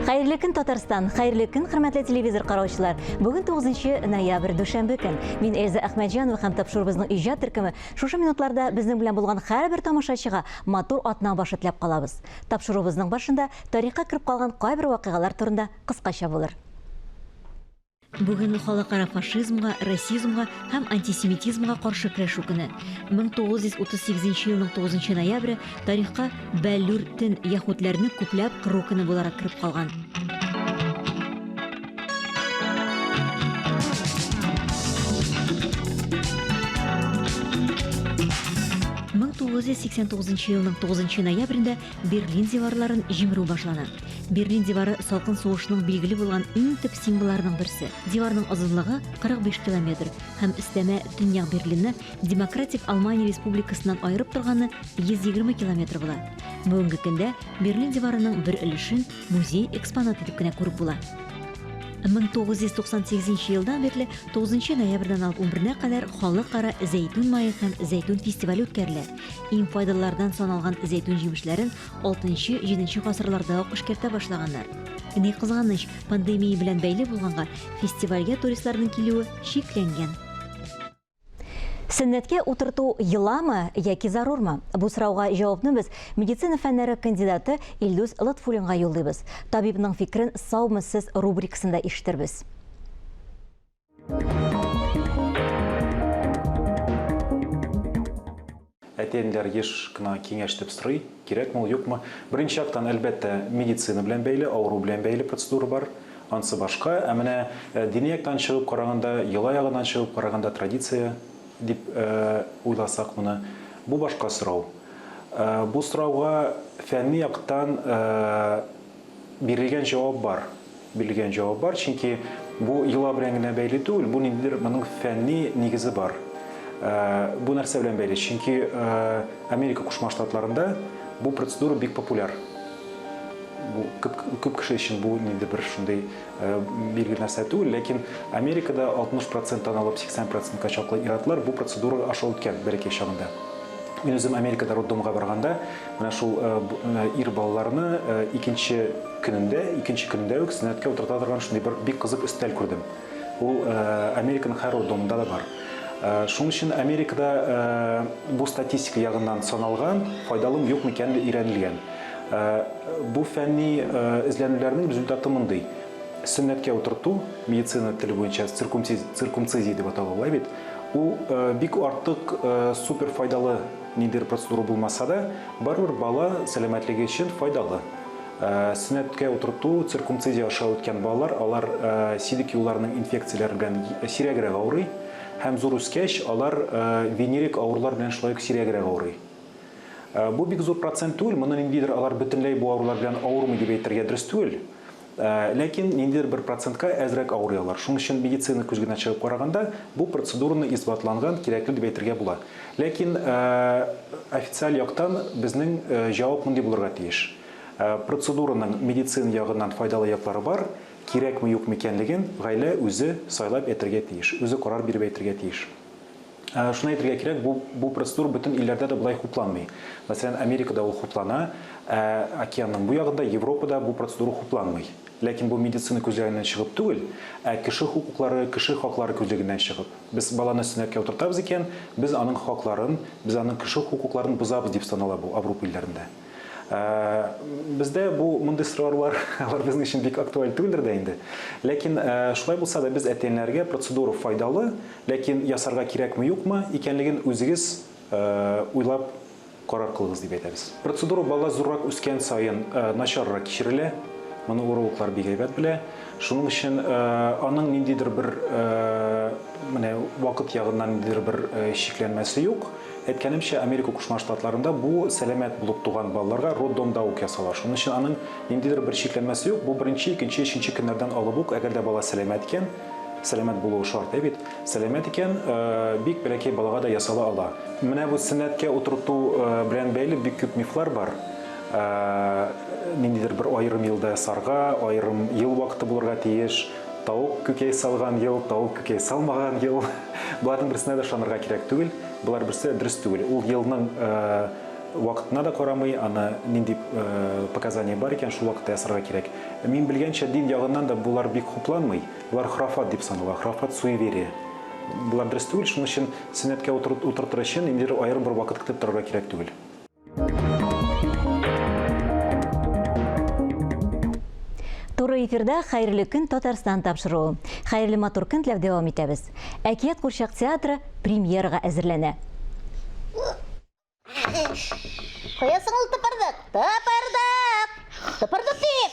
Хәерле көн Татарстан, хәерле көн хөрмәтле телевизор караучылар. Бүген 9 ноябрь дүшәмбе көн. Мин Эльза Әхмәҗанова һәм тапшыруыбызның иҗат төркеме шушы минутларда безнең белән булган һәрбер тамашачыга матур атна башы теләп калабыз. Тапшыруыбызның башында тарихка кереп калган кайбер вакыйгалар турында кыскача булыр. Бүген халыкара фашизмга, расизмга һәм антисемитизмга каршы көрәшү көне. 1938 елның 9 ноябре тарихка Бәллүр тен яһүдләрне күпләп кыру көне буларак кереп калган. Мең тугыз йөз сиксән тугызынчы елның тугызынчы ноябрендә Берлин диварларын җимерү башлана. Берлин дивары салкын сугышның билгеле булган иң төп символларының берсе. Диварның озынлыгы 45 километр һәм өстәмә Төньяк Берлинны Демократик Алмания Республикасыннан аерып торганы 120 километр була. Бүгенге көндә Берлин диварының бер өлешен Музей экспонаты дип кенә күреп була. 1998 елдан бирле 9 ноябрьдән алып 11 кадәр халыкара зәйтүн мае һәм зәйтүн фестивале үткәрелә. Иң файдалылардан саналган зәйтүн җимешләрен 6-7 гасырларда ук эшкәртә башлаганнар. Ни кызганыч, пандемия белән бәйле булганга, фестивальгә туристларның килүе чикләнгән. Сөннәткә утырту йоламы яки зарурмы? Бу сорауга җавапны без медицина фәннәре кандидаты Илдус Лотфуллинга юллыйбыз. Табибның фикерен Саумы сез рубрикасында ишетербез. Әти-әниләр еш кына киңәш дип сорый, кирәкме ул, юкмы. Беренче яктан, әлбәттә, медицина белән бәйле, авыру белән бәйле процедура бар, ансы башка. Ә менә дини яктан чыгып караганда, йола ягыннан чыгып караганда, традиция дип уйласак моны, бу башка сорау. Бу сорауга фәнни яктан, Бирелгән җавап бар. Бирелгән җавап бар, чөнки бу йола белән генә бәйле түгел, бу ниндидер моның фәнни нигезе бар. Бу нәрсә белән бәйле? Чөнки Америка Кушма Штатларында бу процедура бик популяр. Бу күп, күп кеше өчен бу ниндидер бер шундый Э, бирге нәрсә түгел, ләкин Америкада 60 проценттан алып 80 процентка чаклы иратлар бу процедура аша үткән бәләкәй чагында. Мин үзем Америкада роддомга барганда, менә шул э, э, ир балаларны икенче көнендә, икенче көндә үк сөннәткә утырта торган шундый бер бик кызык өстәл күрдем. Ул Американың һәр роддомында да бар. Шуның өчен Америкада бу статистика ягыннан саналган, файдалымы юкмы икәнлеге өйрәнелгән. Бу фәнни эзләнүләрнең результаты мондый. Сөннәткә утырту, медицина теле буенча циркумцизия дип атала алай бит, ул бик артык супер файдалы ниндидер процедура булмаса да, барыбер бала сәламәтлеге өчен файдалы. Сөннәткә утырту, циркумцизия аша үткән балалар, алар силек юлларының инфекцияләре белән сирәгрәк авырый һәм зур үскәч, алар венерик авырулар белән шулай ук сирәгрәк авырый. Э, бу бик зур процент түгел, моны ниндидер алар бөтенләй бу авырулар белән авырмый дип әйтергә дөрес түгел. Э, ләкин ниндидер бер процентка әзрәк авырый алар. Шуның өчен медицина күзгенә чыгып караганда бу процедураны исбатланган, кирәкле дип әйтергә була. Ләкин э, официаль яктан безнең җавап мондый булырга тиеш. Процедураның медицина ягыннан файдалы яклары бар, кирәкме юк микәнлеген гаилә үзе сайлап әйтергә тиеш, үзе карар биреп әйтергә тиеш. Шуны әйтергә кирәк, бу, бу процедура бөтен илләрдә дә болай хупланмый. Мәсәлән, Америкада ул хуплана, ә океанның бу ягында, Европада бу процедура хупланмый. Ләкин бу медицина күзлегеннән чыгып түгел, ә кеше хокуклары, кеше хаклары күзлегеннән чыгып. Без баланы сөннәткә утыртабыз икән, без аның хакларын, без аның кеше хокукларын бозабыз дип санала бу Аврупа илләрендә. Бездә бу мондый сораулар алар безнең өчен бик актуаль түгелдер дә инде. Ләкин шулай булса да без әтиәниләргә процедура файдалы, ләкин ясарга кирәкме юкмы икәнлеген үзегез уйлап карар кылыгыз дип әйтәбез. Процедура бала зуррак үскән саен начаррак кичерелә. Моны урологлар бик әйбәт белә. Шуның өчен аның ниндидер бер менә вакыт ягыннан ниндидер бер чикләнмәсе юк. Әйткәнемчә, Америка Кушма Штатларында бу сәламәт булып туган балаларга роддомда ук ясала. Шуның өчен аның ниндидер бер чикләнмәсе юк, бу беренче, икенче, өченче көннәрдән алып ук, әгәр дә бала сәламәт икән, сәламәт булуы шарт, әй бит, сәламәт икән, бик бәләкәй балага да ясала ала. Менә бу сөннәткә утырту белән бәйле бик күп мифлар бар. Ниндидер бер аерым елда ясарга, аерым ел вакыты булырга тиеш. Тавык күкәй салган ел, тавык күкәй салмаган ел. Боларның берсенә дә ышанырга кирәк түгел. Болар берсе дә дөрес түгел. Ул елның вакытына да карамый, аны нинди показания бар икән, шул вакытта ясарга кирәк. Мин белгәнчә, дин ягыннан да болар бик хупланмый. Болар храфат дип санала, храфат суеверие. Болар дөрес түгел, шуның өчен сөннәткә утыртыр өчен ниндидер аерым бер вакыт көтеп торырга кирәк түгел. Туры эфирда Хәерле көн Татарстан тапшыруы. Хәерле матур көн теләп дәвам итәбез. Әкият курчак театры премьерага әзерләнә. Куясың ул тыпырдык, тыпырдык, тыпырдык дип.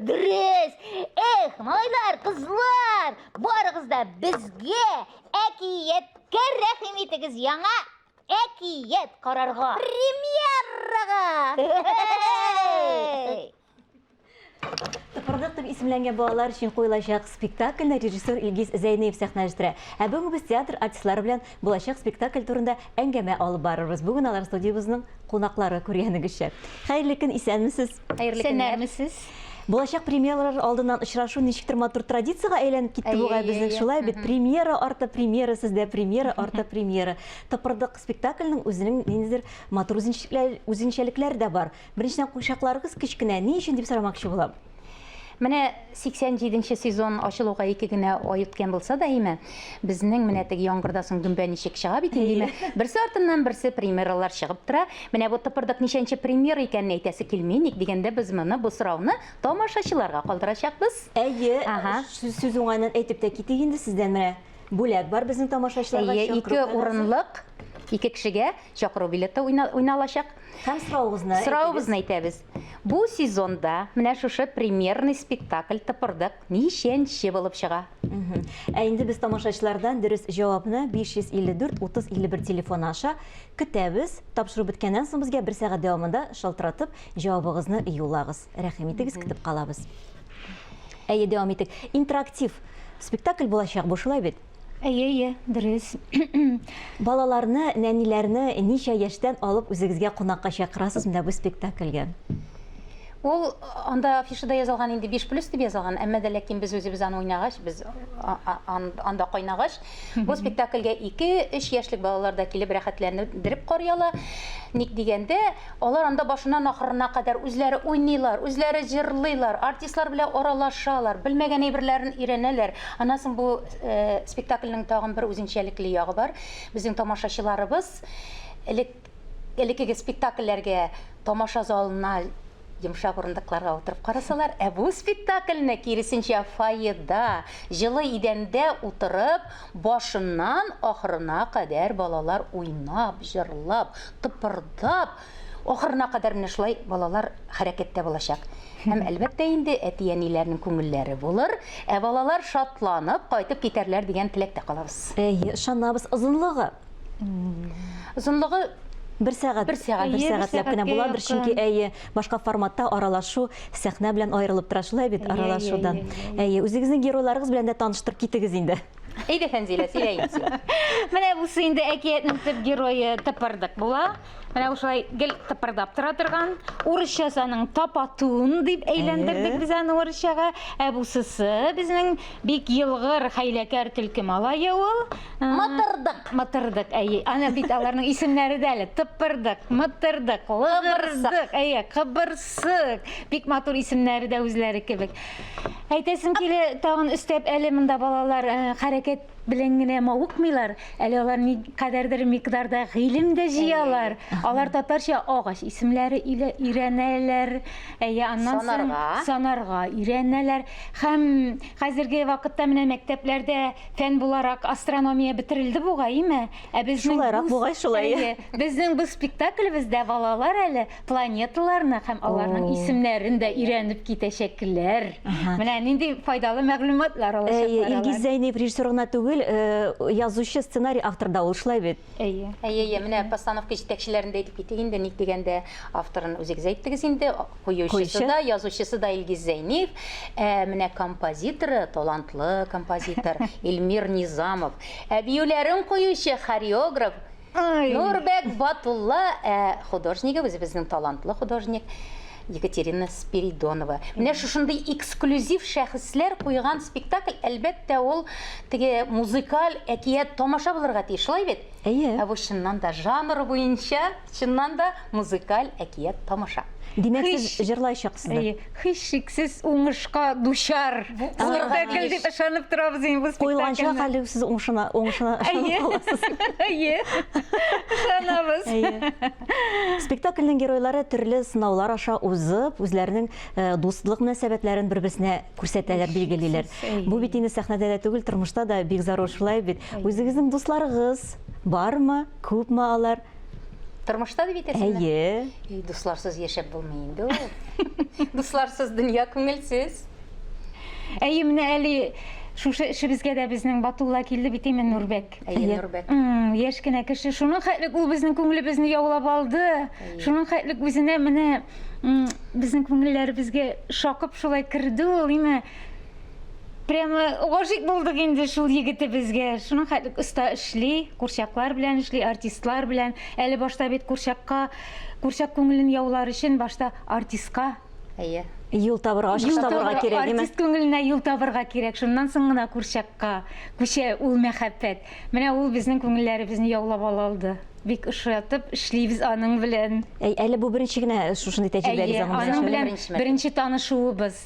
Дөрес! Эх, малайлар, кызлар, барыгыз да безгә әкияткә рәхим итегез яңа әкият карарга. Премьерага! Тыпырдык дип исемләнгән балалар өчен куелачак спектакльне режиссер Илгиз Зәйнеев сәхнәләштерә. Ә бүген без театр артистлары белән Булачак спектакль турында әңгәмә алып барырбыз. Бүген алар студиябезнең кунаклары күргәнегезчә. Хәерле көн, исәнмесез? Хәерле көннәр. Булачак премьералар алдыннан очрашу ничектер матур традициягә әйләнеп китте бугай безнең. Шулай бит, премьера арты премьера сездә, премьера арты премьера. Тыпырдык спектакльнең үзенең ниндидер матур үзенчәлекләре дә бар. Беренчедән, курчакларыгыз кечкенә, ни өчен дип сорамакчы булам. Менә 87 нче сезон ачылуга ике генә ай үткән булса да, әйме, безнең менә теге яңгырда соң гөмбә ничек чыга бит инде, әйме, берсе артыннан берсе премьералар чыгып тора. Менә бу тыпырдык ничәнче премьера икәнен әйтәсе килми, ник дигәндә, без моны, бу сорауны тамашачыларга калдырачакбыз. Әйе, сүз уңаеннан әйтеп тә китик инде, сездән менә бүләк бар безнең тамашачыларга чакыру кәгазь. Әйе, ике урынлык, ике кешегә чакыру билеты уйналачак. Һәм соравыгызны Соравыгызны әйтәбез. Бу сезонда менә шушы премьерный спектакль Тыпырдык ничәнче булып чыга? Ә инде без тамашачылардан дөрес җавапны 554 30 51 телефоны аша көтәбез. Тапшыру беткәннән соң безгә бер сәгать дәвамында шалтыратып җавабыгызны юллагыз. Рәхим итегез, көтеп калабыз. Әйе, дәвам итик. Интерактив спектакль булачак бу, шулай бит? Әйе, әйе, дөрес. Балаларны, нәниләрне ничә яшьтән алып үзегезгә кунакка чакырасыз менә бу спектакльгә? Ул анда афишада язылган инде 5 плюс дип язылган, әмма дә ләкин без үзебез аны уйнагач, без анда кайнагач, бу спектакльгә 2-3 яшьлек балалар да килеп рәхәтләнеп карый ала. Ник дигәндә, Алар анда башыннан ахырына кадәр үзләре уйныйлар, үзләре җырлыйлар, артистлар белән аралашалар, белмәгән әйберләрен өйрәнәләр. Аннан соң бу спектакльнең тагын бер үзенчәлекле ягы бар. Безнең тамашачыларыбыз элек, элеккеге спектакльләргә тамаша залына йомшак урындыкларга утырып карасалар, ә бу спектакльне, киресенчә, фойеда, җылы идәндә утырып, башыннан ахырына кадәр балалар уйнап, җырлап, тыпырдап, ахырына кадәр менә шулай балалар хәрәкәттә булачак. Һәм, әлбәттә инде, әти-әниләрнең күңелләре булыр, ә балалар шатланып кайтып китәрләр дигән теләктә калабыз. Әйе, ышанабыз. Озынлыгы? Озынлыгы Бер сәгать, бер сәгать, бер сәгатьләп кенә була, бер чөнки әйе, башка форматта аралашу сәхнә белән аерылып тора шулай бит, аралашудан. Әйе, үзегезнең геройларыгыз белән дә таныштырып китегез инде. Әйдә, Фәнзилә, сөйлә инде. Менә бусы инде әкиятнең төп герое тыпырдык була. Менә ушулай гел тыпырдап тора торган. Урысча аның тапатун дип әйләндердек без аны урысчага. Ә бусысы безнең бик елгыр, хәйләкәр төлке малае ул. Мытырдык. Мытырдык, әйе. Аны бит аларның исемнәре дә әле тыпырдык, мытырдык, лыбырдык, әйе, кыбырсык. Сык! Бик матур исемнәре дә үзләре кебек. Әйтәсем килә, тагын өстәп, әле монда балалар э, хәрәкәт белән генә мавыкмыйлар, әле алар ни кадәрдер микъдарда гыйлем дә җыялар. Алар татарча агач исемләре илә- өйрәнәләр, әйе, аннан соң Санарга. санарга өйрәнәләр. Һәм хәзерге вакытта менә мәктәпләрдә фән буларак астрономия бетерелде бугай, име? Ә безнең Шулайрак бу- бугай, шулай. Әйе, безнең бу спектаклебездә балалар әле планеталарны һәм аларның исемнәрен дә өйрәнеп китәчәкләр. Менә нинди файдалы мәгълүматлар алачаклар. Илгиз Зәйнев режиссер гына түгел, э, язучы, сценарий автор да ул, шулай бит? Әйе. Әйе, әйе, менә постановка җитәкчеләрен дә әйтеп китик инде, ник дигәндә, авторын үзегез әйттегез инде, куючысы да, язучысы да Илгиз Зәйнев, ә менә композиторы, талантлы композитор Илмир Низамов, ә биюләрен куючы хореограф Нурбәк Батулла ә художнигы үзебезнең талантлы художник Екатерина Спиридонова. Менә шушындый эксклюзив шәхесләр куйган спектакль, әлбәттә, ул теге музыкаль әкият тамаша булырга тиеш, шулай бит? Әйе. Ә бу чыннан да жанр буенча, чыннан да Музыкаль әкият тамаша. Димәк, сез җырлаячаксыз да? Һичшиксез уңышка дучар спектакль дип ышанып торабыз инде бу спектакльне. Куелганча хәле сез уңышына уңышына ышанып каласыз. Әйе. Ышанабыз. Спектакльнең геройлары төрле сынаулар аша узып, үзләренең дуслык мөнәсәбәтләрен бер-берсенә күрсәтәләр, билгелиләр. Бу бит инде сәхнәдә дә түгел, тормышта да бик зарур шулай бит. Үзегезнең дусларыгыз бармы, күпме алар? Тормышта дип әйтәсеңме? Әйе. И, дусларсыз яшәп булмый инде ул. Дусларсыз дөнья күңелсез. Әйе, менә әле шушы эшебезгә дә безнең Батулла килде бит имен Нурбәк. Әйе, Нурбәк. Яшь кенә кеше. Шуның хәтлек ул безнең күңелебезне яулап алды. Шуның хәтлек үзенә менә безнең күңелләребезгә шакып шулай керде ул, име? Прямо гашыйк булдык инде шул егетебезгә. Шуның хәтлек оста эшли, курчаклар белән эшли, артистлар белән. Әле башта бит курчакка, курчак күңелен яулар өчен башта артистка Әйе. Юл табырга, ачыш Юл табырга табырга, кирәк, димәк. Артист күңеленә юл табырга кирәк. Шуннан соң гына курчакка күчә ул мәхәббәт. Менә ул безнең күңелләребезне яулап ала алды. Бик ошатып эшлибез аның белән. Әй, әле бу беренче генә шушындый тәҗрибәгез Әйе, аның белән Беренче, беренче. беренче танышуыбыз.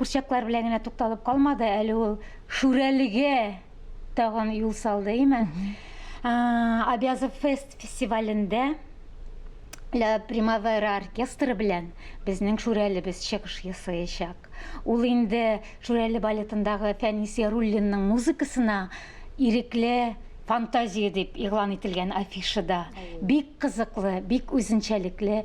Курчаклар белән генә тукталып калмады, әле ул Шүрәлегә тагын юл салды, име? Абязов фест фестивалендә Ля Примавера оркестры белән безнең Шүрәлебез чыгыш ясаячак. Ул инде Шүрәле балетындагы Фәнис Яруллинның музыкасына ирекле фантазия дип игълан ителгән афишада бик кызыклы, бик үзенчәлекле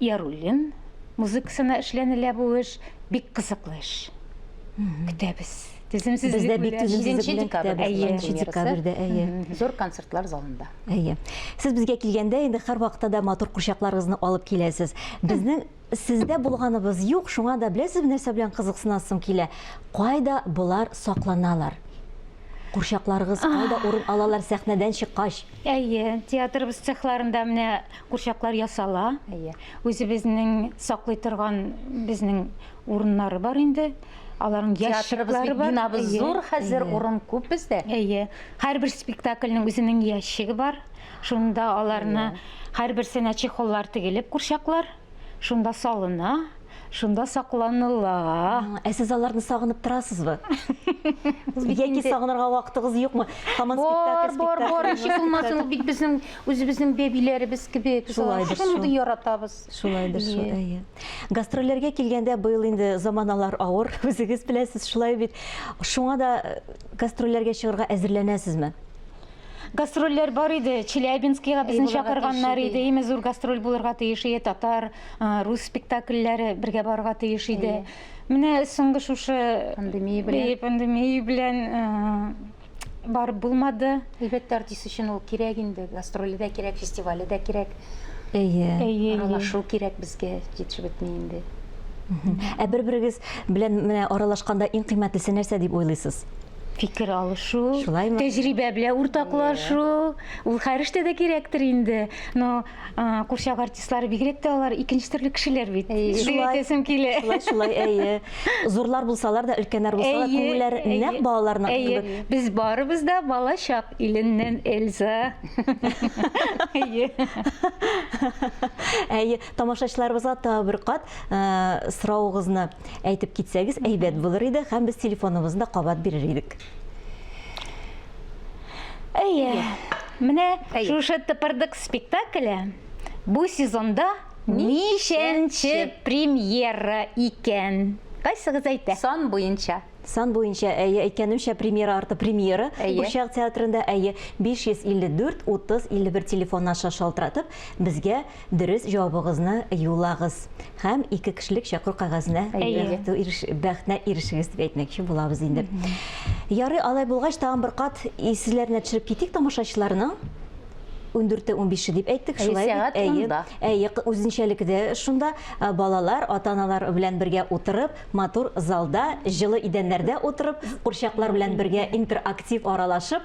Яруллин музыкасына эшләнелә бу эш. Бик кызыклы эш. Көтәбез. Түземсезлек белән. Бездә бик түземсезлек белән көтәбез. 7 декабрьдә, әйе. Зур концертлар залында. Әйе. Сез безгә килгәндә, инде һәрвакытта да матур курчакларыгызны алып киләсез. Безнең сездә булганыбыз юк, шуңа да беләсезме нәрсә белән кызыксынасым килә? Кайда болар сакланалар? Курчакларыгыз кайда урын алалар сәхнәдән чыккач? Әйе, театрыбыз цехларында менә Курчаклар ясала. Әйе. Үзебезнең саклый торган безнең урыннары бар инде. Аларның ящиклары бар. Бинабыз зур хәзер, урын күп бездә. Әйе. Һәрбер спектакльнең үзенең ящигы бар. Шунда аларны һәрберсенә чехоллар тегелеп курчаклар, шунда салына, шунда сакланыла. Ә сез аларны сагынып торасызбы? Яки сагынырга вакытыгыз юкмы? Һаман спектакль, спектакль. Бар, бар, бар. Ничек булмасын, ул бит безнең Үзебезнең бәбиләребез кебек, шундый яратабыз. Шулайдыр, әйе. Гастрольләргә килгәндә, быел инде заманалар авыр, үзегез беләсез, шулай бит. Шуңа да гастрольләргә чыгарга әзерләнәсезме? гастрольләр бар иде челябинскига безне чакырганнар иде име зур гастроль булырга тиеш иде татар рус спектакльләре бергә барырга тиеш иде менә соңгы шушы пандемия белән пандемия белән барып булмады. Әлбәттә, артист өчен ул кирәк инде. Гастроле дә кирәк, фестивале дә кирәк. Әйе. Әйе. Аралашу кирәк безгә, җитешеп бетми инде. Ә бер-берегез белән менә аралашканда иң кыйммәтлесе нәрсә дип уйлыйсыз? Фикер алышу, тәҗрибә белән уртаклашу, ул һәр эштә дә кирәктер инде. Но Курчак артистлары бигрәк тә алар икенче төрле кешеләр бит. Шулай әйтәсем килә. Шулай, шулай, әйе. Зурлар булсалар да, өлкәннәр булсалар, күңелләр нәкъ балаларның. Әйе, без барыбыз да балачак иленнән Эльза. Әйе. Әйе, тамашачыларыбызга тагы бер кат сорауыгызны әйтеп китсәгез, әйбәт булыр иде һәм без телефоныбызны да кабат бирер идек. Әйе. Менә шушы тыпырдык спектакле бу сезонда ничәнче премьера икән? Кайсыгыз әйтә? Сан буенча. Сан буенча әйе әйткәнемчә премьера арты премьера Курчак театрында әйе 554 30 51 телефон аша шалтыратып безгә Дөрес җавабыгызны юлагыз һәм ике кешелек чакыру кәгазенә бәхетенә ирешегез дип әйтмәкче булабыз инде. Ярый, алай булгач, тагын бер кат исезләренә төшереп китик тамашачыларның ундүрте унбише дип әйттек шулай сәгать унда әйе үзенчәлеке дә шунда балалар ата аналар белән бергә утырып матур залда җылы идәннәрдә утырып курчаклар белән бергә интерактив аралашып